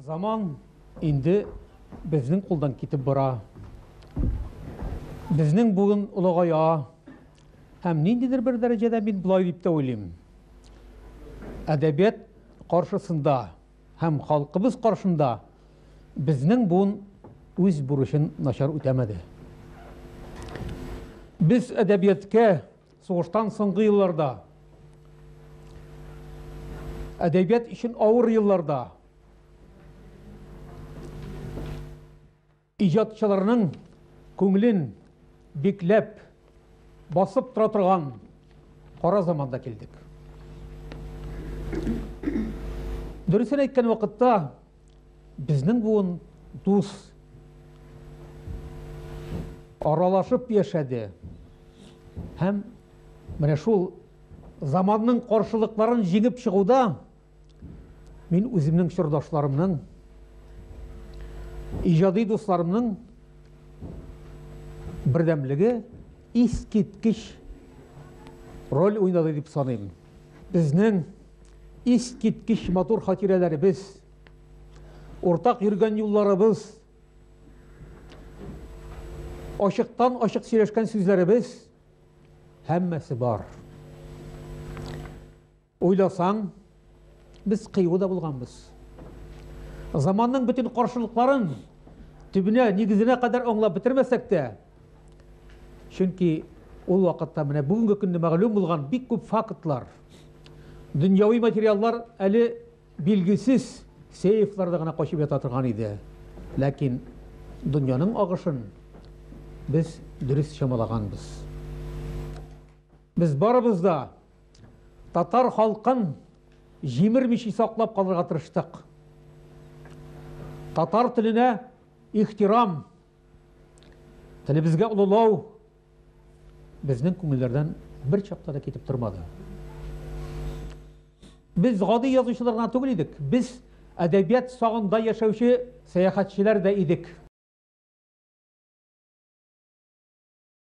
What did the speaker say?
Заман инде безнең кулдан китеп бара. Безнең бүген олыгая. Һәм ниндидер бер дәрәҗәдә мин болай дип тә уйлыйм. Әдәбият каршысында һәм халкыбыз каршында безнең буын үз бурычын начар үтәмәде. Без әдәбиятка Сугыштан соңгы елларда, әдәбият өчен авыр елларда иҗатчыларның күңелен бикләп, басып тора торган кара заманда килдек. Дөресен әйткән вакытта, Безнең буын дус аралашып яшәде һәм менә шул заманның каршылыкларын җиңеп чыгуда мин үземнең чордашларымның иҗади дусларымның бердәмлеге искиткеч роль уйнады дип саныйм. Безнең Искиткеч матур хатирәләребез, уртак йөргән юлларыбыз, ачыктан-ачык сөйләшкән сүзләребез һәммәсе бар. Уйласаң, без кыю да булганбыз. Заманның бөтен каршылыкларын төбенә, нигезенә кадәр аңлап бетермәсәк тә, Чөнки ул вакытта менә бүгенге көнне мәгълүм булган бик күп фактлар, дөньяви материаллар әле билгесез сейфларда гына качып ята торган иде. Ләкин дөньяның агышын без дөрес чамалаганбыз. Без барыбыз да татар халкын җимермичи саклап калырга тырыштык. Татар теленә ихтирам, Телебезгә олылау безнең күңелләрдән бер чакта да китеп тормады. Без гади язучылар гына түгел идек, без әдәбият сагында яшәүче сәяхәтчеләр дә идек.